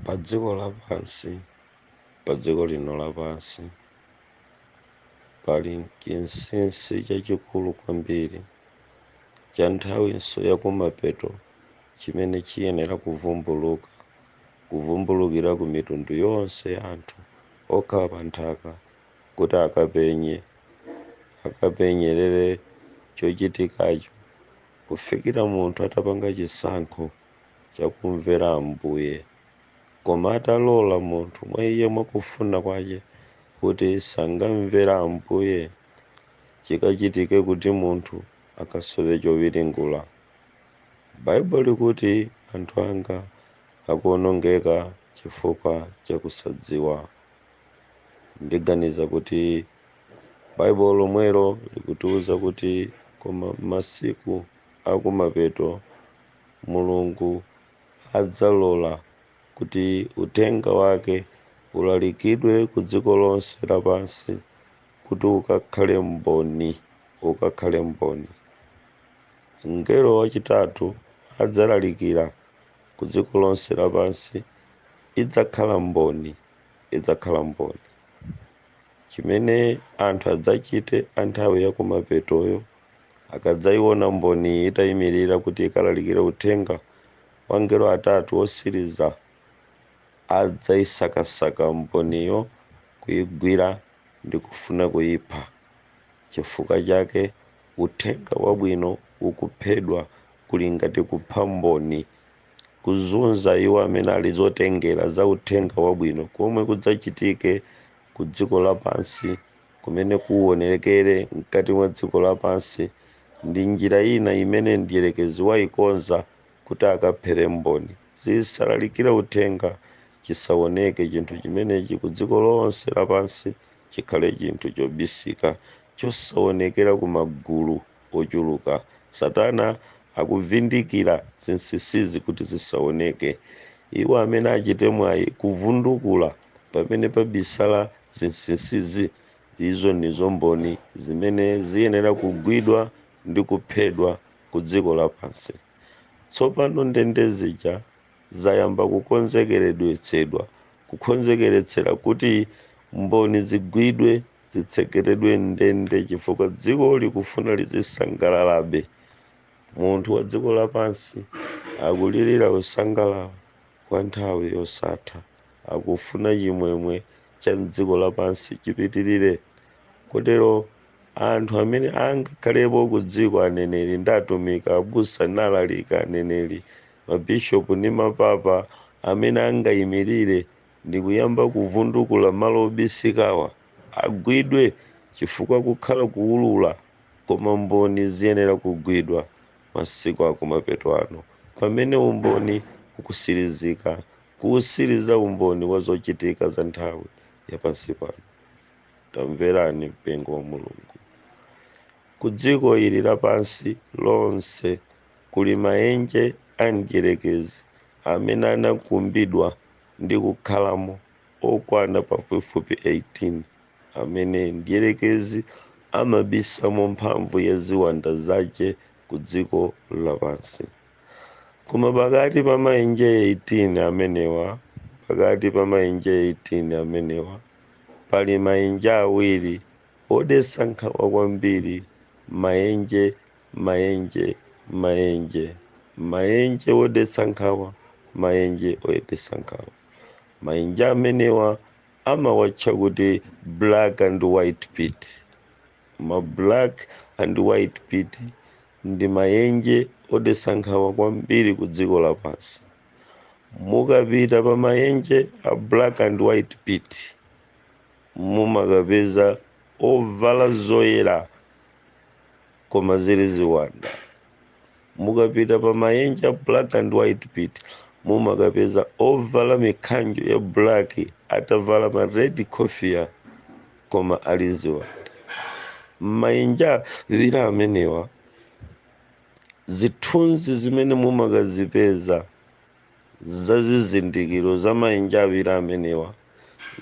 pa dziko lapansi pa dziko lino lapansi pali chinsinsi chachikulu kwambiri cha nthawinso yakumapeto chimene chiyenera kuvumbuluka kuvumbulukira ku mitundu yonse ya anthu okhala pa nthaka kuti akapenye, akapenyerere chochitikacho kufikira munthu atapanga chisankho chakumvera Ambuye. Koma atalola munthu mwa iye mwakufuna kwache kuti sangamvera Ambuye, chikachitike kuti munthu akasowe chowiringula. Baibulo likuti anthu anga akuonongeka chifukwa chakusadziwa. Ndiganiza kuti Baibulo lomwelo likutiuza kuti koma m'masiku akumapeto Mulungu adzalola kuti uthenga wake ulalikidwe kudziko lonse lapansi kuti ukakhale mboni, ukakhale mboni. Mngelo wachitatu adzalalikira kudziko lonse lapansi, idzakhala mboni. idzakhala mboni. Chimene anthu adzachite a nthawi ya kumapetoyo akadzaiona mboniyi itaimirira kuti ikalalikire uthenga wa angelo atatu otsiriza, adzaisakasaka mboniyo, kuigwira ndi kufuna kuipha. Chifukwa chake, uthenga wabwino ukuphedwa kuli ngati kupha mboni kuzunza iwo amene ali zotengera za uthenga wabwino komwe kudzachitike ku dziko lapansi kumene kuuonerekere mkati mwa dziko lapansi ndi njira ina imene mdierekezi waikonza kuti akaphere mboni zisalalikire uthenga chisaoneke chinthu chimenechi ku dziko lonse lapansi chikhale chinthu chobisika chosaonekera ku magulu ochuluka. Satana akubvindikira zinsinsizi kuti zisaoneke. Iwo amene achite mwayi kubvundukula pamene pabisala zinsinsizi, izo ndizo mboni zimene ziyenera kugwidwa ndi kuphedwa ku dziko lapansi. Tsopano ndende zija zayamba kukhonzekeredetsedwa, kukhonzekeretsera kuti mboni zigwidwe. zitsekeredwe m'ndende chifukwa dziko likufuna lizisangalalabe munthu wa dziko lapansi akulirira kusangalala kwa nthawi yosatha akufuna chimwemwe cha mdziko lapansi chipitirire kotero anthu amene angakhalepo ku dziko aneneri ndi atumiki abusa n'alaliki aneneri mabishopu ndi mapapa amene angayimirire ndikuyamba kuvundukula malo obisikawa, agwidwe chifukwa kukhala kuwulula koma mboni ziyenera kugwidwa masiku akumapeto ano pamene umboni ukutsirizika kuwutsiriza umboni wa zochitika za nthawi ya pansi pano. Tamverani mpingo wa Mulungu. Ku dziko ili lapansi lonse kuli maenje a mdyerekezi amene anakumbidwa. ndi kukhalamo okwana pafupifupi 18, amene Mdyelekezi amabisamo mphamvu ya ziwanda zake ku dziko lapansi. Koma pakati pa maenje 18 amenewa, pakati pa maenje 18 amenewa, pali maenje awiri odetsa nkhawa kwambiri, maenje maenje maenje maenje wodetsa nkhawa maenje odetsa nkhawa maenje amenewa amawatcha kuti black and white pit ma black and white pit ndi maenje odetsa nkhawa kwambiri ku dziko lapansi mukapita pa maenje a black and white pit mumakapeza ovala zoyera koma zili ziwanda mukapita pa maenje a black and white pit mumakapeza ovala mikhanjo ya black atavala ma red kofia koma ali ziwanda m'maenje awiri amenewa zithunzi zimene mumakazipeza za zizindikiro za maenje awiri amenewa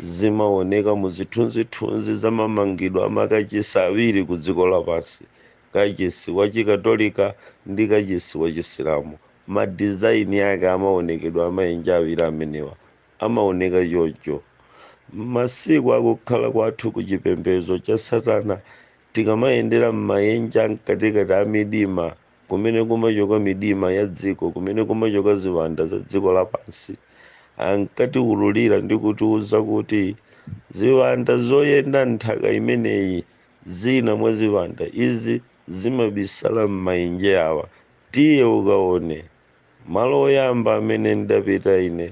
zimaoneka mu zithunzithunzi za mamangidwe a makachisi awiri ku dziko lapansi kachisi wa chikatolika ndi kachisi wa chisilamu madizaini ake amaonekedwa amaenje awiri amenewa amaoneka choncho masiku akukhala kwathu ku chipembedzo cha satana tikamayendera m'maenje amkatikati a midima kumene kumachoka midima ya dziko kumene kumachoka ziwanda za dziko lapansi ankatiwululira ndi kutiwuza kuti ziwanda zoyenda nthaka imeneyi zina mwa ziwanda izi zimabisala m'maenje awa tiye ukaone malo oyamba amene ndidapita ine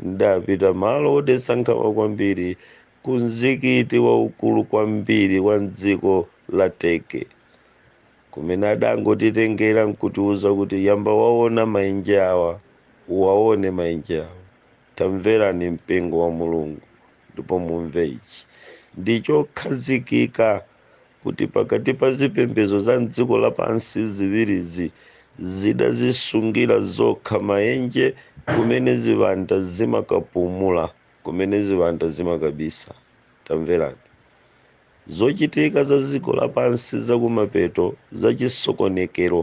ndidapita malo odetsa nkhawa kwambiri ku mzikiti waukulu kwambiri wa mdziko la Turkey Kumene adangotitengera nkutiuza kuti yamba waona maenje awa, uwaone maenje awa. Tamverani mpingo wa Mulungu ndipo mumve ichi. Ndi chokhazikika kuti pakati pa zipembezo za m'dziko lapansi ziwirizi zidazisungira zokha maenje kumene ziwanda zimakapumula, kumene ziwanda zimakabisa. Tamverani. Zochitika za dziko lapansi za kumapeto za chisokonekero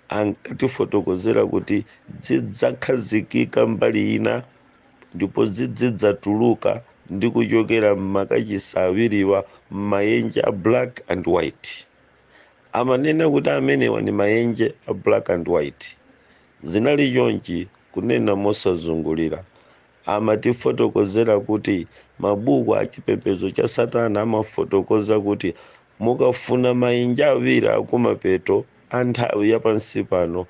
ankatifotokozera kuti zidzakhazikika mbali ina ndipo zidzidzatuluka ndi kuchokera m'makachisi awiriwa m'mayenje a black and white. Amanena kuti amenewa ndi mayenje a black and white. Zinali chonchi kunena mosazungulira. Amatifotokozera kuti mabuku a chipembedzo cha Satana amafotokoza kuti mukafuna maenje awiri akumapeto a nthawi ya pansi pano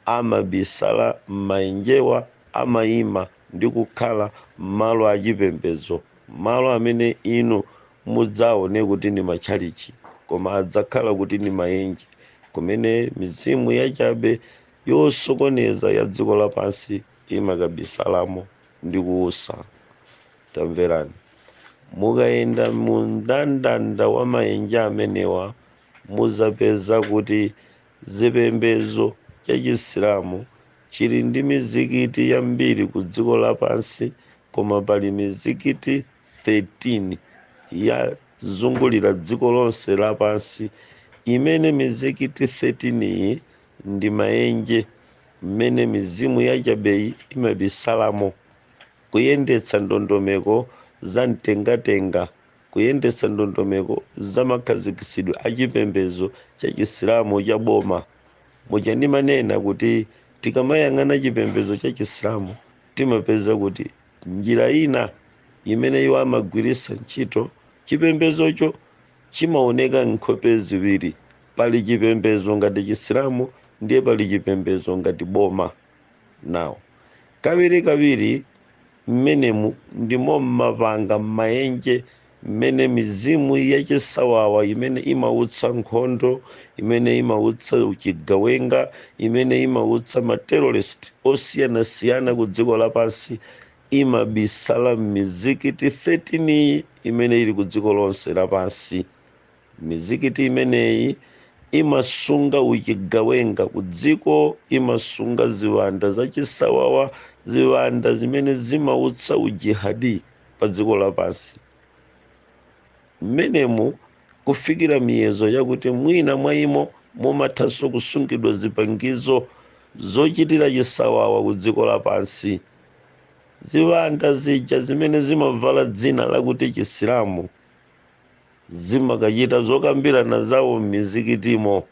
amabisala m'maenjewa amaima ndi kukhala m'malo a chipembedzo malo amene inu mudzaone kuti ndi matchalitchi koma adzakhala kuti ndi maenje kumene mizimu yachabe yosokoneza ya dziko lapansi imakabisalamo ndi kuusa. Tamverani! Mukayenda mu mndandanda wa maenje amenewa, muzapeza kuti zipembezo cha chisilamu chili ndi mizikiti yambiri ku dziko lapansi koma pali mizikiti 13 yazungulira dziko lonse lapansi imene mizikiti 13 iyi ndi maenje mmene mizimu yachabeyi imabisalamo, kuyendetsa ndondomeko za mtengatenga, kuyendetsa ndondomeko za makhazikitsidwe a chipembedzo cha Chisilamu cha boma. Muja ndimanena kuti tikamayang'ana chipembedzo cha Chisilamu timapeza kuti njira ina imene iwo amagwiritsa ntchito chipembedzocho chimaoneka nkhope ziwiri pali chipembezo ngati chisilamu ndiye pali chipembezo ngati boma nawo kawirikawiri mmenemu ndimo mmapanga mmaenje mmene mizimu yachisawawa imene imautsa nkhondo imene imautsa uchigawenga imene imautsa materrorist osiyanasiyana ku dziko lapansi imabisala m'mizikiti 13 imene ili ku dziko lonse lapansi. Mizikiti imeneyi imasunga uchigawenga ku dziko, imasunga ziwanda zachisawawa, ziwanda zimene zimautsa ujihadi pa dziko lapansi. Mmenemu kufikira miyezo yakuti mwina mwa imo mumathanso kusungidwa zipangizo zochitira chisawawa ku dziko lapansi. ziwanda zija zimene zimavala dzina lakuti chisilamu zimakachita zokambirana zawo m'mizikitimo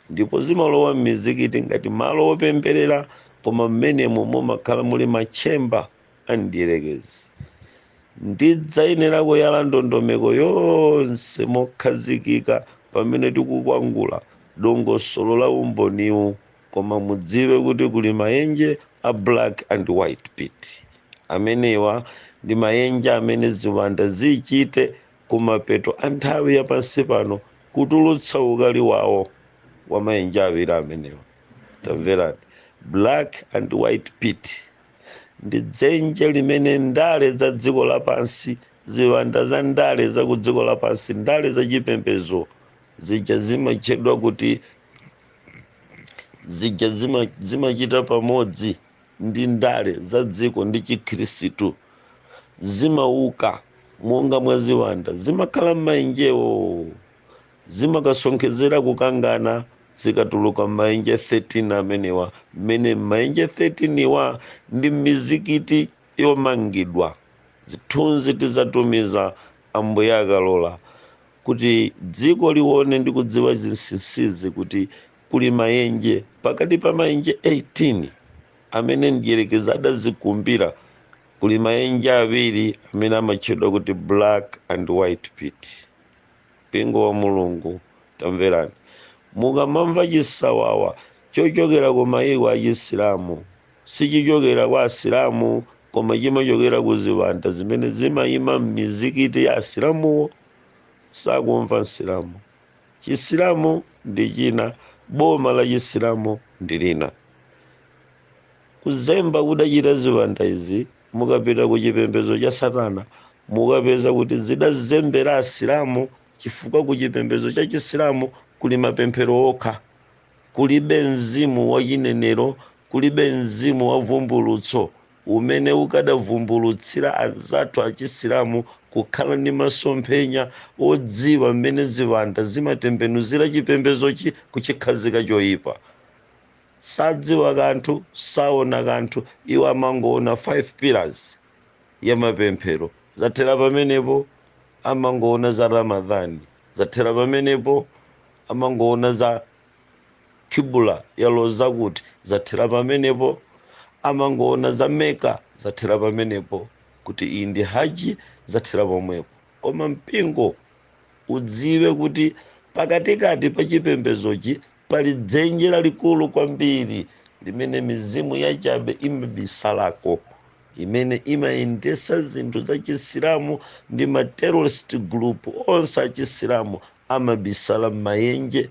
ndipo zimalowa m'mizikiti ngati malo opemberera koma mmenemo mumakhala muli matchemba a mdierekezi ndidzayenera kuyala ndondomeko yonse mokhazikika pamene tikukwangula dongosolo la umboniwu koma mudziwe kuti kuli mayenje a black and white pit amenewa ndi mayenje amene ziwanda zichite kumapeto a nthawi ya pansi pano kutulutsa ukali wawo wa mayenje awiri amenewa tamverani black and white pit ndi dzenje limene ndale za dziko lapansi ziwanda za ndale za ku dziko lapansi ndale za chipembedzo zija zimatchedwa kuti zija zimachita pamodzi ndi ndale za dziko ndi chikhirisitu zimauka monga mwa ziwanda zimakhala m'maenjewo zimakasonkhezera kukangana zikatuluka m'maenje 13 amenewa mmene m'maenje 13 wa ndi mizikiti yomangidwa zithunzi tizatumiza ambuye akalola kuti dziko lione ndi kudziwa zinsinsizi kuti kuli mayenje pakati pa mayenje 18 amene mdierekezi adazikumbira kuli mayenje awiri amene amatchedwa kuti black and white pit mpingo wa mulungu tamverani mukamamva chisawawa chochokera ku mayiko a chisilamu sichichokera kwa asilamu koma chimachokera ku ziwanda zimene zimayima m'mizikiti ya asilamuwo sakumva msilamu chisilamu ndi china boma la chisilamu ndi lina kuzemba kudachita ziwanda izi mukapita ku chipembedzo cha satana mukapeza kuti zidazembera asilamu chifukwa ku chipembedzo cha chisilamu kuli mapemphero okha kulibe mzimu wa chinenero kulibe mzimu wa vumbulutso umene ukadavumbulutsira anzathu Achisilamu kukhala ndi masomphenya odziwa mmene ziwanda zimatembenuzira chipembedzochi kuchikhazika choipa. Sadziwa kanthu, saona kanthu, iwo amangoona 5 pillars ya mapemphero, zathera pamenepo, amangoona za Ramadhan, zathera pamenepo, amangoona za. Qibla yaloza kuti? Zathera pamenepo? Amangoona za Mecca? Zathera pamenepo? Kuti iyi ndi Hajj? Zathera pomwepo? Koma mpingo udziwe kuti pakatikati pa chipembedzochi pali dzenje lalikulu kwambiri limene mizimu yachabe imabisalako imene imayendesa zinthu za chisilamu ndi ma terrorist group onse achisilamu amabisala m'mayenje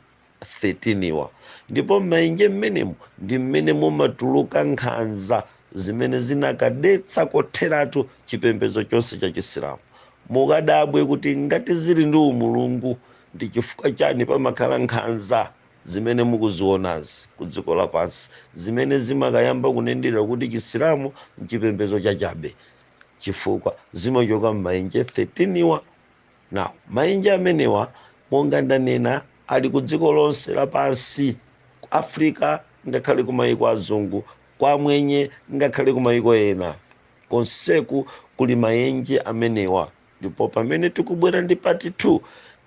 13 wa, ndipo m'mayenje mmenemo ndi mmene mumatuluka nkhanza zimene zinakadetsa kotheratu chipembedzo chonse cha Chisilamu. Mukadabwe kuti ngati zili ndi umulungu, ndi chifukwa chani pamakhala nkhanza zimene mukuzionazi ku dziko lapansi, zimene zimakayamba kunenedwa kuti Chisilamu n'chipembedzo chachabe? Chifukwa zimachoka m'mayenje 13 wa. Now, maenje amenewa monga ndanena ali ku dziko lonse lapansi ku africa ngakhale ku mayiko azungu kwa amwenye ngakhale ku mayiko ena konseku kuli maenje amenewa ndipo pamene tikubwera ndi part 2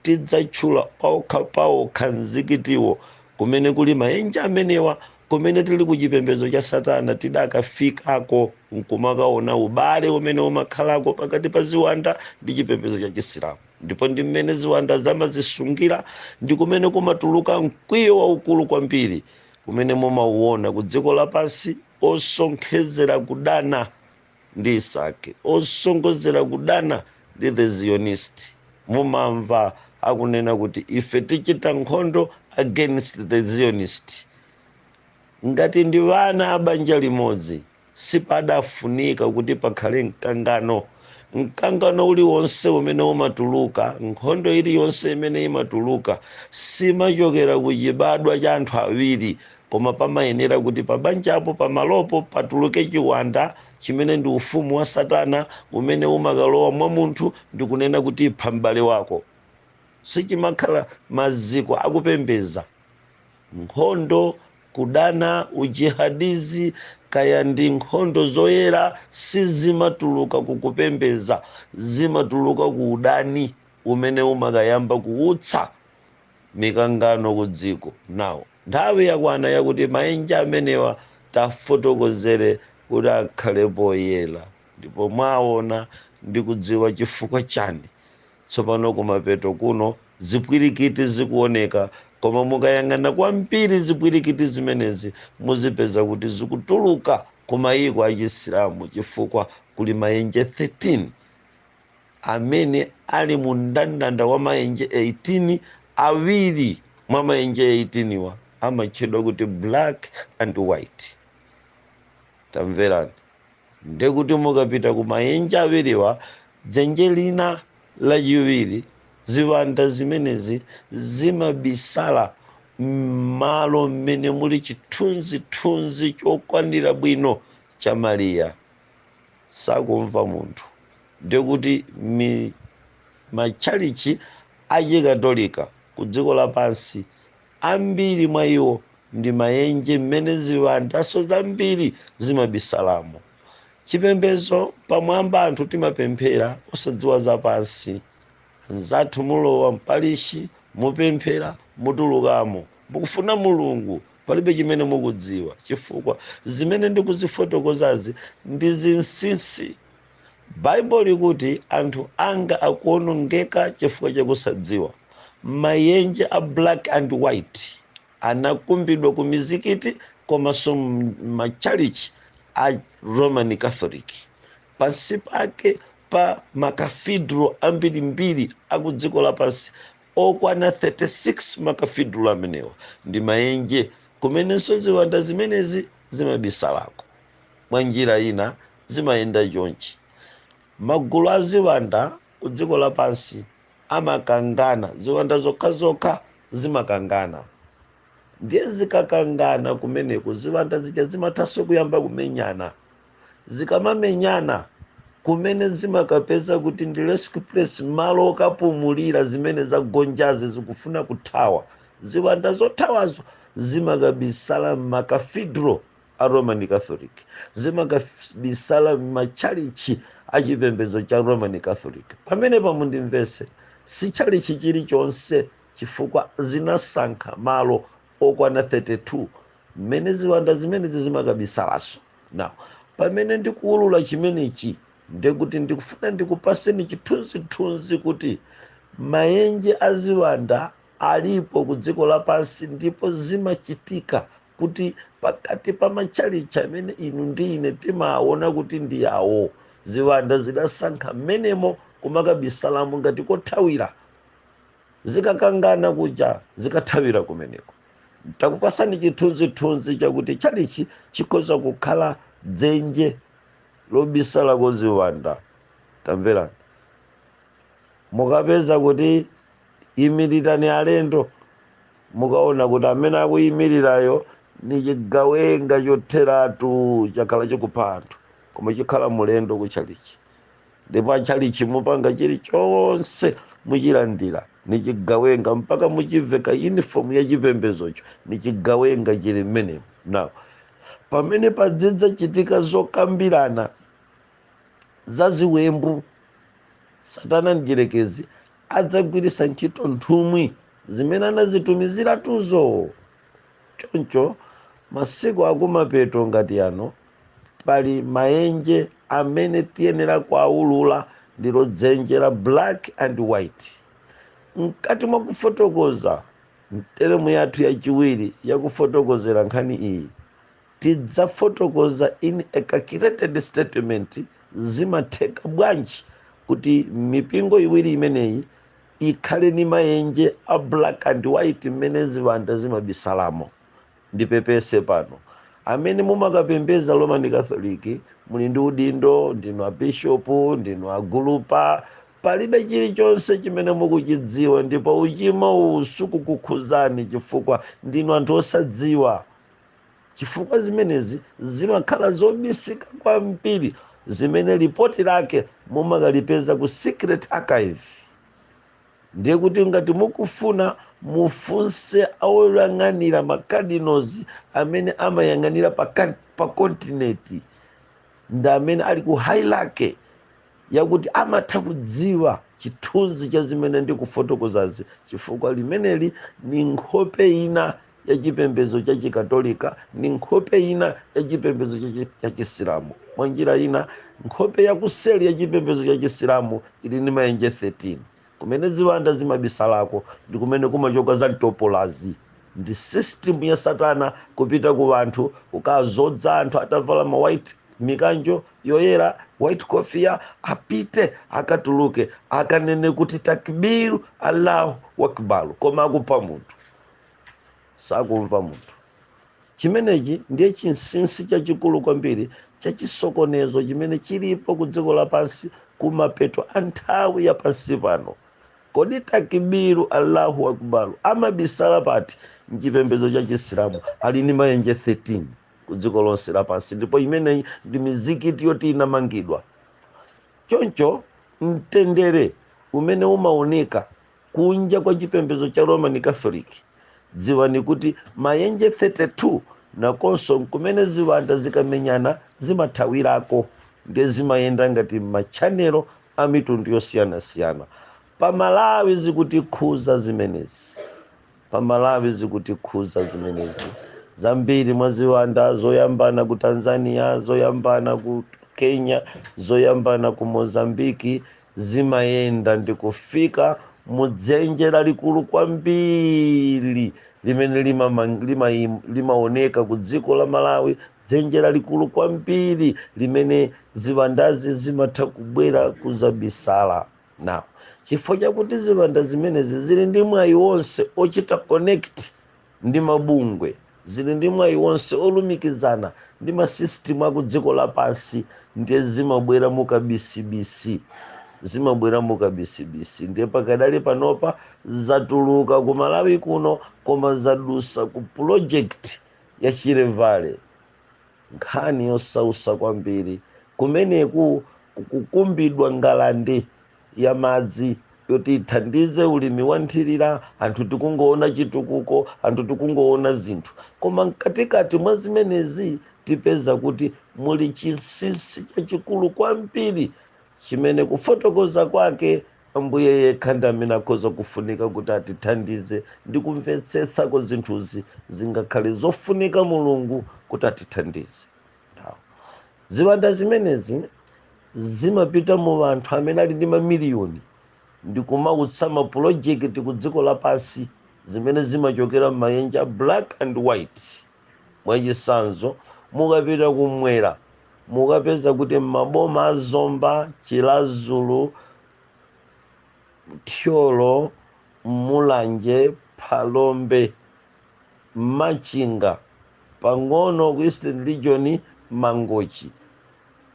tidzatchula paokha paokha mzikitiwo kumene kuli maenje amenewa Kumene tili ku chipembedzo cha Satana tidakafikako nkumakaona ubale umene umakhalako pakati pa ziwanda ndi chipembedzo cha Chisilamu ndipo ndi mmene ziwanda zamazisungira ndi kumene kumatuluka mkwiyo waukulu kwambiri kumene mumauona ku dziko lapansi osonkhezera kudana ndi isaki osonkhezera kudana ndi the zionist mumamva akunena kuti ife tichita nkhondo against the zionist ngati ndi wana abanja limodzi sipadafunika kuti pakhale mkangano mkangano uliwonse umene umatuluka nkhondo iliyonse imene imatuluka simachokera ku chibadwa cha anthu awiri koma pamayenera kuti pabanjapo pamalopo patuluke chiwanda chimene ndi ufumu wa satana umene umakalowa mwa munthu ndi kunena kuti ipha m'bale wako sichimakhala maziko akupembeza nkhondo kudana ujihadizi kaya ndi nkhondo zoyera sizimatuluka kukupembeza zimatuluka ku udani umene umakayamba kuutsa mikangano ku dziko. Now nthawi yakwana yakuti maenje amenewa tafotokozere kuti akhale poyera ndipo mwaona ndi kudziwa chifukwa chani tsopano kumapeto kuno zipwirikiti zikuoneka koma mukayang'ana kwambiri zipwirikiti zimenezi muzipeza kuti zikutuluka ku maiko a chisilamu chifukwa kuli maenje 13 amene ali mu mndandanda wa maenje 18 awiri mwa maenje 18 wa amatchedwa kuti black and white tamverani ndekuti mukapita ku maenje awiriwa dzenje lina lachiwiri ziwanda zimenezi zimabisala m'malo mmene muli chithunzithunzi chokwanira bwino cha mariya sakumva munthu ndiye kuti matchalitchi achikatolika ku dziko lapansi ambiri mwa iwo ndi mayenje mmene ziwandanso zambiri zimabisalamo chipembedzo pamwamba anthu timapemphera osadziwa zapansi nzathu mulowa mpalishi mupemphera mutulukamo mukufuna mulungu Palibe chimene mukudziwa chifukwa zimene ndikuzifotokozazi ndi zinsinsi. Baibulo likuti anthu anga akuonongeka chifukwa chakusadziwa. Mayenje a black and white anakumbidwa ku mizikiti komanso matchalitchi a Roman Catholic. Pansi pake pa ma cathedral ambirimbiri a ku dziko lapansi okwana 36 makafidulo amenewa ndi maenje kumenenso ziwanda zimenezi zimabisalako mwa njira ina zimayenda chonchi magulu a ziwanda ku dziko lapansi amakangana ziwanda zokhazokha zimakangana ndiye zikakangana kumeneko ziwanda zija zimathanso kuyamba kumenyana zikamamenyana kumene zimakapeza kuti ndi rescue place malo okapumulira zimene zagonjazi zikufuna kuthawa ziwanda zothawazo zimakabisala m'makathedral a roman catholic zimakabisala m'matchalichi a chipembedzo cha roman catholic pamenepa mundimvese si tchalichi chilichonse chifukwa zinasankha malo okwana 32 mmene ziwanda zimenezi zimakabisalaso now pamene ndikuwulula chimenechi ndekuti ndikufuna ndikupaseni chithunzithunzi kuti mayenje a ziwanda alipo ku dziko lapansi ndipo zimachitika kuti pakati pa matchalitchi amene inu ndi ine timaona kuti ndi yawo ziwanda zidasankha mmenemo kumakabisalamo ngati kothawira zikakangana kuja zikathawira kumeneko takupasani chithunzithunzi chakuti tchalichi chikhoza kukhala dzenje lobisalako ziwanda tamverani mukapeza kuti imirirani alendo mukaona kuti amene akuyimirirayo ni chigawenga chotheratu chakhala chikupha anthu koma chikhala mulendo kutchalichi ndipo atchalitchi mupanga chilichonse muchilandira nichigawenga mpaka muchiveka uniform ya chipembezocho nichigawenga chili mmenemo now pamene padzidzachitika zokambirana za ziwembu satana mdyerekezi adzagwiritsa ntchito nthumwi zimene anazitumiziratuzo choncho masiku akumapeto ngati ano pali mayenje amene tiyenera kuawulula ndilo dzenje la black and white mkati mwa kufotokoza mteremu yathu yachiwiri yakufotokozera nkhani iyi tidzafotokoza in a calculated statement zimatheka bwanji kuti mipingo iwiri imeneyi ikhale ni mayenje a black and white mmene ziwanda zimabisalamo ndipepese pano amene mumakapembeza roman catholic muli ndi udindo ndinu abishopu ndinu agulupa palibe chilichonse chimene mukuchidziwa ndipo uchimo uwu sukukukhuzani chifukwa ndinu anthu osadziwa chifukwa zimenezi zimakhala zobisika kwambiri zimene lipoti lake mumakalipeza ku secret archive ndiye kuti ngati mukufuna mufunse oyang'anira macardinals amene amayang'anira pa kontinenti ndi amene ali ku hierarchy yakuti amatha kudziwa chithunzi cha zimene ndikufotokozazi chifukwa limeneli ni nkhope ina ya chipembedzo cha chikatolika ni nkhope ina ya chipembedzo cha chi- cha chisilamu mwa njira ina nkhope ya kuseli ya chipembedzo cha chisilamu ili ndi mayenje 13 kumene ziwanda zimabisalako ndi kumene kumachoka za mtopolazi ndi system ya satana kupita ku wanthu ukazodza anthu atavala ma white mikanjo yoyera white kofia apite akatuluke akanene kuti takbiru allahu wakbar koma akupha munthu sakumva munthu chimenechi ndiye chinsinsi chachikulu kwambiri chachisokonezo chimene chilipo ku dziko lapansi kumapeto kwa nthawi ya pansi pano kodi takibiru allahu akbaru amabisala pati mchipembedzo cha chisilamu ali ndi mayenje 13 ku dziko lonse lapansi ndipo imeneyi ndi mizikiti yoti inamangidwa choncho mtendere umene umaoneka kunja kwa chipembedzo cha roman catholic dziwani kuti mayenje 32 nakonso kumene ziwanda zikamenyana zimathawirako ndiye zimayenda ngati machanelo a mitundu yosiyanasiyana pamalawi zikutikhuza zimenezi pamalawi zikutikhuza zimenezi zambiri mwa ziwanda zoyambana ku tanzania zoyambana ku kenya zoyambana ku mozambiki zimayenda ndi kufika mu dzenje lalikulu kwambiri limene limama- limaim- limaoneka ku dziko la malawi dzenje lalikulu kwambiri limene ziwandazi zimatha kubwera kuzabisala nawo chifukwa chakuti ziwanda zimenezi zili ndi mwayi wonse ochita connect ndi mabungwe zili ndi mwayi wonse olumikizana ndi ma system aku dziko lapansi ndiye zimabwera mukabisibisi zimabwera mukabisibisi ndiye pakadali panopa zatuluka ku Malawi kuno koma zadusa ku project ya Shire Valley nkhani yosausa kwambiri kumeneku kukukumbidwa ngalande ya madzi yoti ithandize ulimi wa nthirira anthu tikungoona chitukuko anthu tikungoona zinthu koma mkatikati mwa zimenezi tipeza kuti muli chinsinsi chachikulu kwambiri chimene kufotokoza kwake ambuye yekha ndi amene akhoza kufunika kuti atithandize ndi kumvetsetsako zinthuzi zingakhale zofunika mulungu kuti atithandize ziwanda zimenezi zimapita mu anthu amene ali ndi mamiliyoni ndikumautsa mapulojekiti ku dziko lapansi zimene zimachokera m'mayenje a black and white mwachisanzo mukapita kumwera mukapeza kuti m'maboma a zomba chilazulu thyolo mulanje phalombe machinga pang'ono ku eastern region mangochi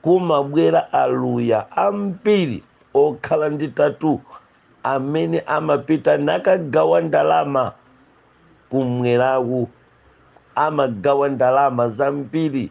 kumabwera Aluya ambiri okhala ndi tatu amene amapita nakagawa ndalama kumweraku amagawa ndalama zambiri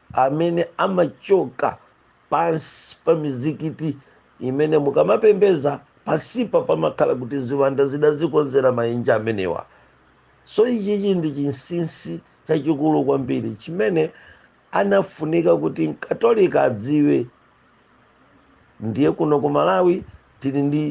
amene amachoka pansi pa mizikiti imene mukamapembedza pansipa pamakhala kuti ziwanda zidazikonzera maenje amenewa so ichichi ndi chinsinsi chachikulu kwambiri chimene anafunika kuti mkatolika adziwe ndiye kuno ku malawi tili ndi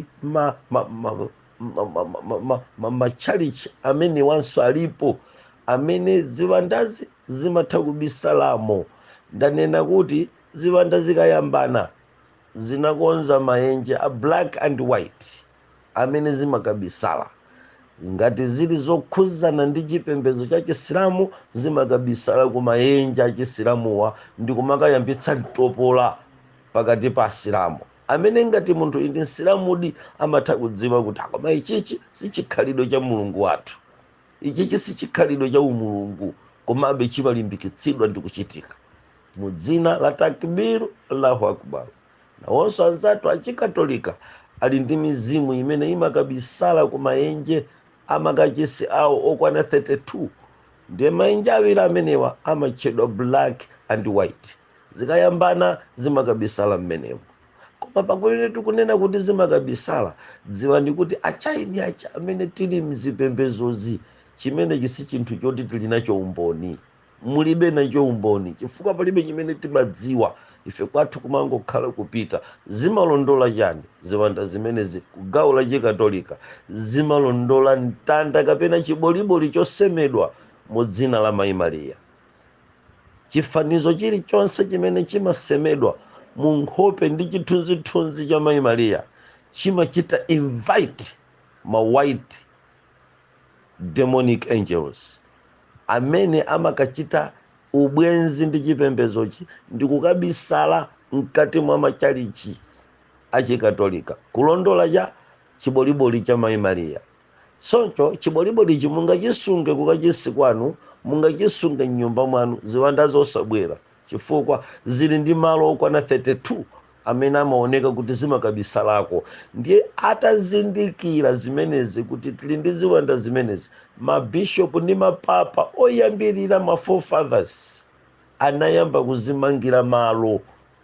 machalichi amene wanso alipo amene ziwandazi zimatha kubisalamo ndanena kuti ziwanda zikayambana zinakonza maenje a black and white amene zimakabisala ngati zili zokhuzana ndi chipembedzo cha chisilamu zimakabisala ku maenje a chisilamuwa ndi kumakayambitsa mtopola pakati pa asilamu amene ngati munthu ndi msilamudi amatha kudziwa kuti a koma ichichi sichikhalidwe cha mulungu wathu ichichi sichikhalidwe cha umulungu komabe chimalimbikitsidwa ndi kuchitika mu dzina la takbiru allahu akbar nawonso anzathu achikatolika ali ndi mizimu imene imakabisala ku maenje amakachisi awo okwana 32 ndiye maenje awiri amenewa amatchedwa black and white zikayambana zimakabisala mmenemo koma pomwe tikunena kuti zimakabisala dziwani kuti achaini acha amene tili mzipembedzozi chimenechi si chinthu choti tili nacho umboni mulibe nacho umboni chifukwa palibe chimene timadziwa ife kwathu kumangokhala kupita zimalondola chani ziwanda zimenezi ku gawo la chikatolika zimalondola mtanda kapena chiboliboli chosemedwa mu dzina la mayi mariya chifanizo chilichonse chimene chimasemedwa mu nkhope ndi chithunzithunzi cha mayi mariya chimachita invite ma white demonic angels amene amakachita ubwenzi ndi chipembedzochi ndi kukabisala mkati mwa machalichi achikatolika kulondola cha chiboliboli cha mayi mariya choncho chibolibolichi mungachisunge kukachisi kwanu mungachisunge mnyumba mwanu ziwanda zizabwera chifukwa zili ndi malo okwana 32 amene amaoneka kuti zimakabisalako ndiye atazindikira zimenezi kuti tili ndi ziwanda zimenezi mabishopu ndi mapapa oyambirira ma forefathers anayamba kuzimangira malo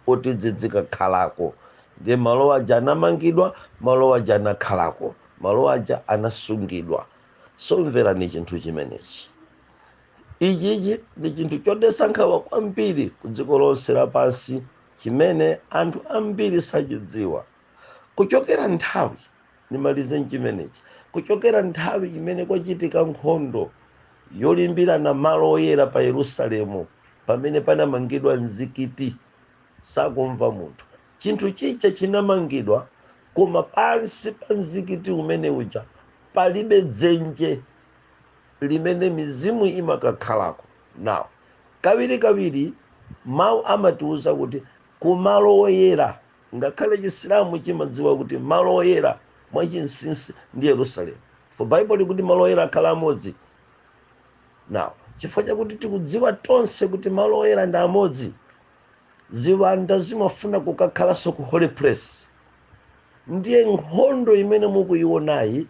oti zidzikakhalako ndiye malo aja anamangidwa malo aja anakhalako malo aja anasungidwa so mverani chinthu chimenechi ichichi ndi chinthu chodetsa nkhawa kwambiri ku dziko lonse lapansi chimene anthu ambiri sachidziwa kuchokera nthawi ndimalize nchimenechi kuchokera nthawi imene kwachitika nkhondo yolimbirana malo oyera pa yerusalemu pamene panamangidwa mzikiti sakumva munthu chinthu chija chinamangidwa koma pansi pa mzikiti umene uja palibe dzenje limene mizimu imakakhalako. Now, kawirikawiri Mawu amatiuza kuti ku malo oyera, ngakhale Chisilamu chimadziwa kuti malo oyera mwa chinsinsi ndi Yerusalemu, for Bible likuti malo oyera akhale amodzi. Now, chifukwa chakuti tikudziwa tonse kuti malo oyera ndi amodzi, ziwanda zimafuna kukakhalanso ku holy place. Ndiye nkhondo imene mukuionayi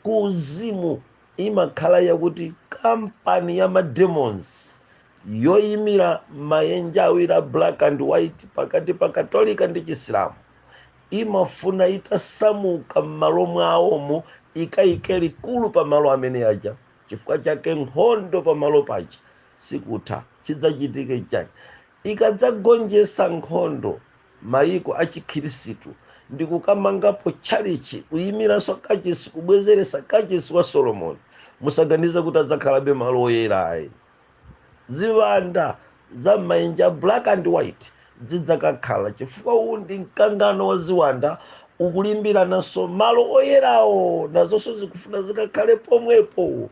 ku uzimu imakhala yakuti kampani ya ma demons yoyimira mayenja awiri a black and white pakati pa katolika ndi chisilamu imafuna itasamuka m'malo mwawomo ikayike likulu pa malo amene aja chifukwa chake nkhondo pa malo paja sikutha chidzachitike chani ikadzagonjetsa nkhondo mayiko a chikhirisitu ndi kukamangapo tchalitchi, kuyimiranso kachisi, kubwezeretsa kachisi wa Solomoni, musaganize kuti adzakhalabe malo oyera ayi. Ziwanda za m'mayenja a black and white zidzakakhala chifukwa uwu ndi mkangano wa ziwanda ukulimbirananso malo oyerawo, nazonso zikufuna zikakhale pomwepo.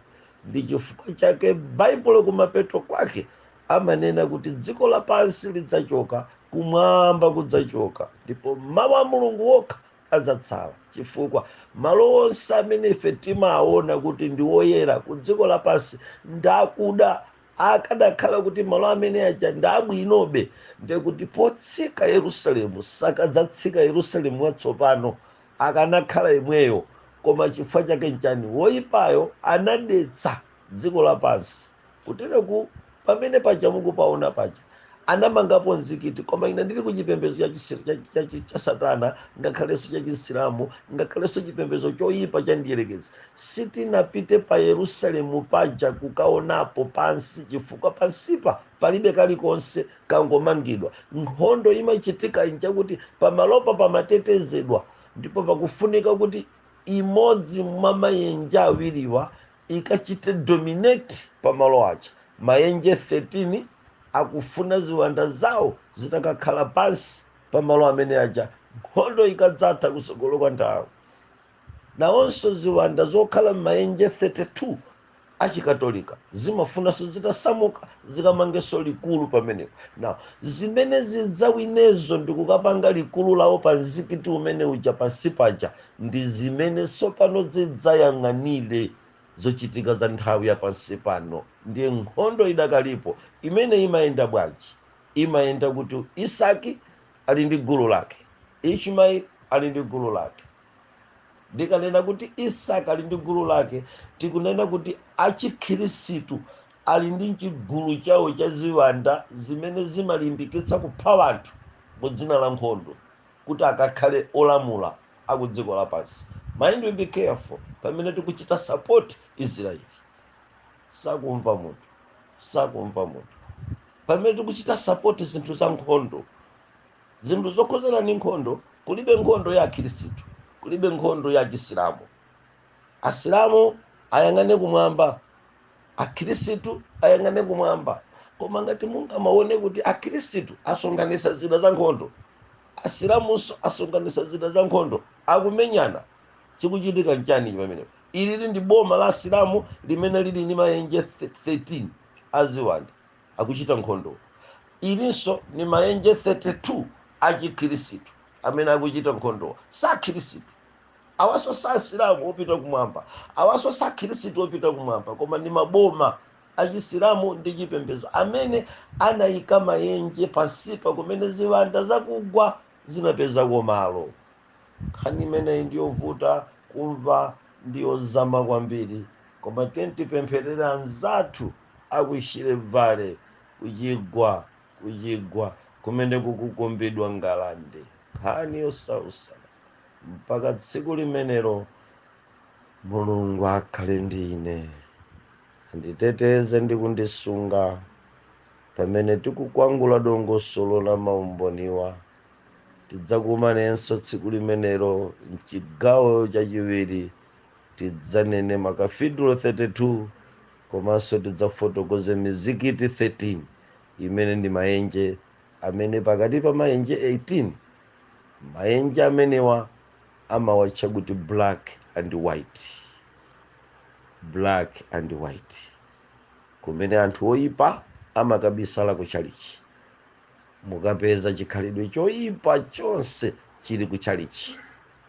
Ndi chifukwa chake Baibulo kumapeto kwake amanena kuti dziko lapansi lidzachoka, kumwamba kudzachoka, ndipo mawu a Mulungu okha adzatsala, chifukwa malo onse amene ife timaona kuti ndi oyera ku dziko lapansi ndakuda akadakhala kuti malo amene aja ndabwinobe ndekuti potsika yerusalemu sakadzatsika yerusalemu watsopano akanakhala yemweyo koma chifukwa chake nchani woyipayo anadetsa dziko lapansi kutereku pamene paja mukupaona paja anamangapo mzikiti koma ine ndili kuti chipembedzo cha chisi- cha- cha- cha- cha satana ngakhalenso cha chisilamu ngakhalenso chipembedzo choyipa cha mdyerekezi sitinapite pa yerusalemu paja kukaonapo pansi chifukwa pansipa palibe kalikonse kangomangidwa nkhondo imachitika nchakuti pamalopa pamatetezedwa ndipo pakufunika kuti imodzi mwa mayenje awiriwa ikachite dominate pamalo aja mayenje 13 akufuna ziwanda zawo zitakakhala pansi pamalo amene aja nkhondo ikadzatha kutsogolo kwa nthawi nawonso ziwanda zokhala m'mayenje 32 achikatolika zimafunanso zitasamuka zikamangenso likulu pamenepo now zimene zidzawinezo ndikukapanga likulu lawo pa mzikiti umene uja pansi paja ndi zimene tsopano zidzayang'anire zochitika za nthawi ya pansi pano ndiye nkhondo idakalipo imene imayenda bwanji imayenda kuti isaki ali ndi gulu lake ishmaeli ali ndi gulu lake ndikanena kuti isaki ali ndi gulu lake tikunena kuti achikhirisitu Ali ndi chigulu chawo cha ziwanda zimene zimalimbikitsa kupha wanthu mu dzina la nkhondo kuti akakhale olamula aku dziko lapansi. Mind we be careful pamene tikuchita support Israel. Sakumva munthu. Sakumva munthu. Pamene tikuchita support zinthu za nkhondo. Zinthu zokhuzana ndi nkhondo, kulibe nkhondo ya akhirisitu, kulibe nkhondo ya achisilamu. asilamu ayang'ane kumwamba akhirisitu ayang'ane kumwamba koma ngati mungamaone kuti akhirisitu asonkhanisa zida za nkhondo asilamunso asonkhanisa zida za nkhondo akumenyana chikuchitika nchani pamenepo ilili ndi boma la asilamu limene lili ndi mayenje 13 aziwanda akuchita nkhondo ilinso ni mayenje 32 achikhirisitu amene akuchita nkhondo sakhirisitu awaso sasilamu opita kumwamba awaso sakhirisitu opita kumwamba koma ndi maboma achisilamu ndi chipembedzo amene anayika mayenje pansipa kumene ziwanda zakugwa zinapezako malo nkhani imeneyi ndiyovuta kumva ndiyozama kwambiri koma tiyeni tipempherere anzathu aku shire valley kuchigwa kuchigwa kumene kukukumbidwa ngalande nkhani yosausa mpaka tsiku limenelo mulungu akhale ndi ine anditeteze ndi kundisunga pamene tikukwangula dongosolo la maumboniwa tidzakumanenso tsiku limenelo mchigawo chachiwiri tidzanene makafidro 32 komanso tidzafotokoze mizikiti 13 imene ndi mayenje amene pakati pa maenje 18, maenje amenewa amawatcha kuti black and white, black and white, kumene anthu oipa amakabisala ku tchalitchi. Mukapeza chikhalidwe choipa chonse chili ku tchalitchi.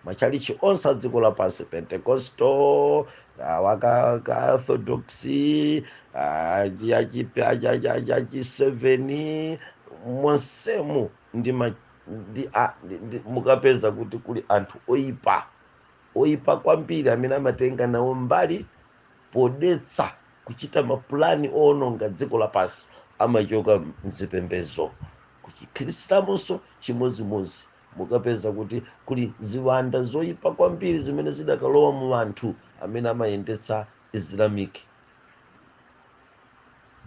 matchalichi onse a dziko lapansi pentecostal akaka orthodox achiseveni monsemu ndi ma- ndi a- ndi- ndi- mukapeza kuti kuli anthu oyipa oyipa kwambiri amene amatenga nawo mbali podetsa kuchita mapulani owononga dziko lapansi amachoka mzipembezo kuchisilamunso chimodzimodzi mukapeza kuti kuli ziwanda zoyipa kwambiri zimene zidakalowa mu anthu amene amayendetsa islamic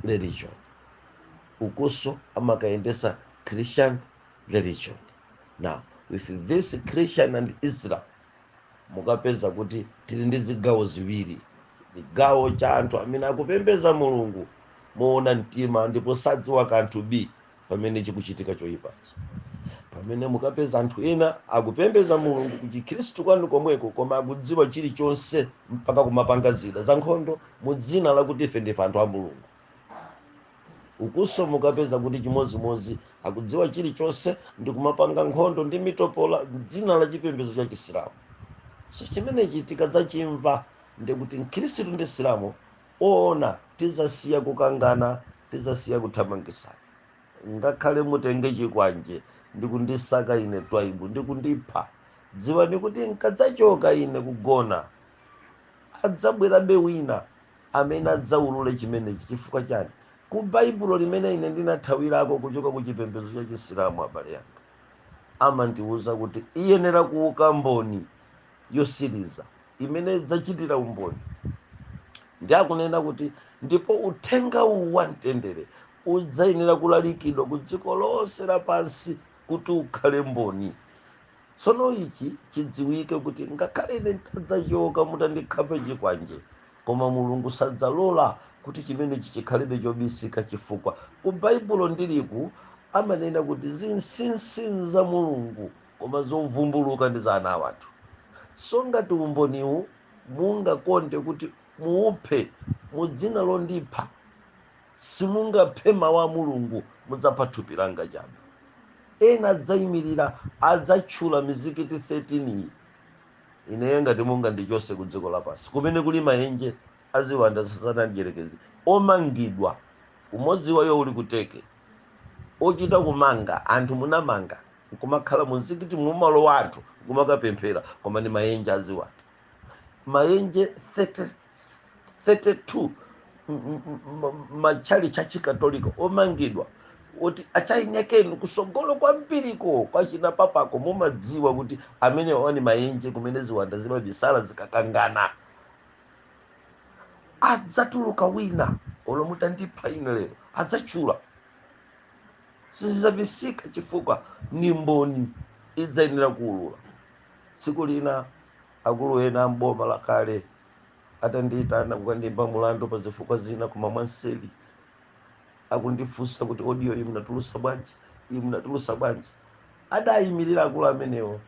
religion ukunso amakayendetsa christian religion now with this christian and islam mukapeza kuti tili ndi zigawo ziwiri chigawo cha anthu amene akupembeza mulungu moona mtima ndipo sadziwa kanthu b pamene chikuchitika choyipachi pamene mukapeza anthu ena akupembeza mulungu kuchikhristu kwanu komweko koma akudziwa chilichonse mpaka kumapanga zida za nkhondo mu dzina lakuti ife ndife anthu a mulungu ukunso mukapeza kuti chimodzimodzi akudziwa chilichonse ndi kumapanga nkhondo ndi mitopola mdzina la chipembedzo cha chisilamu so chimenechi tikadzachimva ndikuti mkhristu ndi msilamu oona tizasiya kukangana tizasiya kuthamangisana ngakhale mutenge chikwanje ndikundisaka ine twaibu ndikundipha dziwani kuti nkadzachoka ine kugona adzabwerabe wina amene adzaulule chimenechi chifukwa chani ku baibulo limene ine ndinathawirako kuchoka ku chipembedzo cha chisilamu bible yanga imandiwuza kuti iyenera kuuka mboni yotsiriza imene idzachitira umboni ndiye akunena kuti ndipo uthenga uwu wa mtendere udzayenera kulalikidwa ku dziko lonse lapansi kuti ukhale mboni tsono ichi chidziwike kuti ngakhale ine ntadzachoka mutandikhapa chikwanje koma mulungu sadzalola kuti chimenechi chikhalebe chobisika chifukwa ku baibulo ndiliku amanena kuti zinsinsi za mulungu Koma zovumbuluka ndi za ana a wanthu. So ngati umboniwu mungakonde kuti muuphe mu dzina londipha, simungaphe Mawu a Mulungu, mudzapha thupi langa chabe. Ena adzaimilira, adzatchula mizikiti 13 iyi. Ineyo ngati mungandichose ku dziko lapansi kumene kuli maenje a ziwanda za Satana Mdyerekezi omangidwa, umodzi wa iwo uli ku Turkey, ochita kumanga anthu munamanga. nkumakhala mu mzikiti mumalowa anthu nkumakapemphera koma ni mayenje aziwanda mayenje 30 32 m- m- m- matchalitchi achikatolika omangidwa oti achainekeni kusogolo kwambiriko kwachina papako mumadziwa kuti amenewa ni mayenje kumene ziwanda zimabisala zikakangana adzatuluka wina olo mutandipha ine lero adzatchula sizidzabisika chifukwa ni mboni idzayenera kuulula tsiku lina akulu ena amboma lakale atandiitana kukandiimba mulandu pa zifukwa zina koma mwanseli akundifunsa kuti audio iyi munatulusa bwanji iyi munatulusa bwanji adayimirira akulu amenewo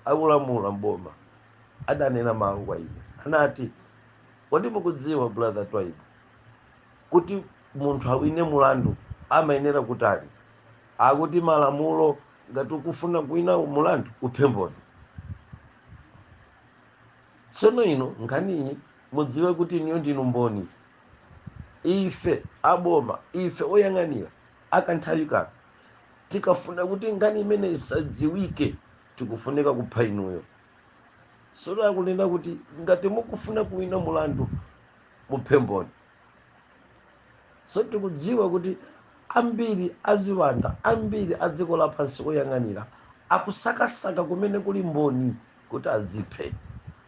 akulamula mboma adanena mawu kwa ine anati kodi mukudziwa brother twaibu Kuti munthu awine mulandu amayenera kutani? Akuti malamulo ngati ukufuna kuwina mulandu uphe mboni. Tsono inu nkhaniyi mudziwe kuti inuyo ndinu mboni. Ife a boma, ife oyang'anira a kanthawi kano tikafuna kuti nkhani imeneyi isadziwike tikufunika kupha inuyo. Tsono akunena kuti ngati mukufuna kuwina mulandu muphe mboni. so tikudziwa kuti ambiri aziwanda ambiri a dziko lapansi oyang'anira akusakasaka kumene kuli mboni kuti aziphe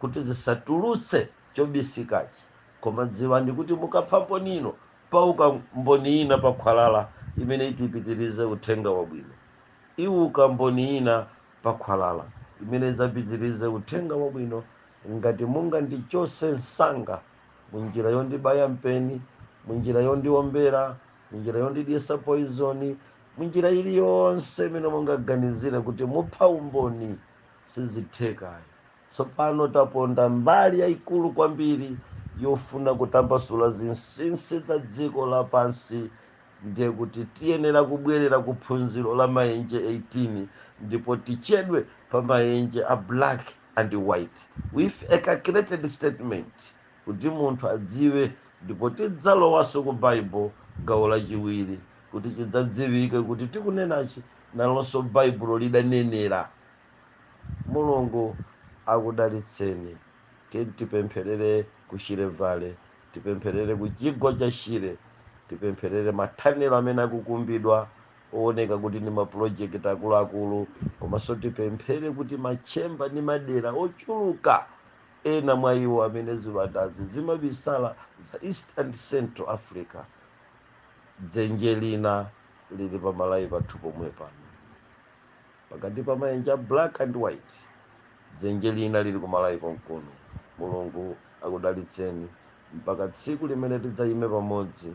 kuti zisatulutse chobisikachi koma dziwani kuti mukapha mboni ino pauka mboni ina pa khwalala imene iti ipitirize uthenga wabwino iwuka mboni ina pa khwalala imene idzapitirize uthenga wabwino ngati mungandichose msanga munjira yondibaya mpeni munjira yondiombera munjira yondidyesa poizoni munjira iliyonse imene mungaganizira kuti mupha umboni sizitheka ayi tsopano taponda mbali yayikulu kwambiri yofuna kutambasula zinsinsi za dziko lapansi ndiye kuti tiyenera kubwerera ku phunziro la mayenje 18 ndipo tichedwe pa mayenje a black and White with a calculated statement kuti munthu adziwe ndipo tidzalowanso ku Bible gawo lachiwiri kuti chidzadziwike kuti tikunenachi nalonso Baibulo lidanenera. Mulungu akudalitseni. Tipempherere ku Shire Valley, tipempherere ku chigwa cha Shire, tipempherere mathanelo amene akukumbidwa owoneka kuti ndi mapulojekiti akuluakulu komanso tipemphere kuti matchemba ndi madera ochuluka ena mwa iwo amene ziwandazi zimabisala za east and central africa dzenje lina lili pa Malawi pathu pomwe pano pakati pa maenje a black and white dzenje lina lili ku Malawi konkuno mulungu akudalitseni mpaka tsiku limene tidzayime pamodzi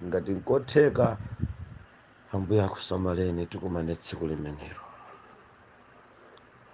Ngati nkotheka, Ambuye akusamaleni tikumane tsiku limenelo.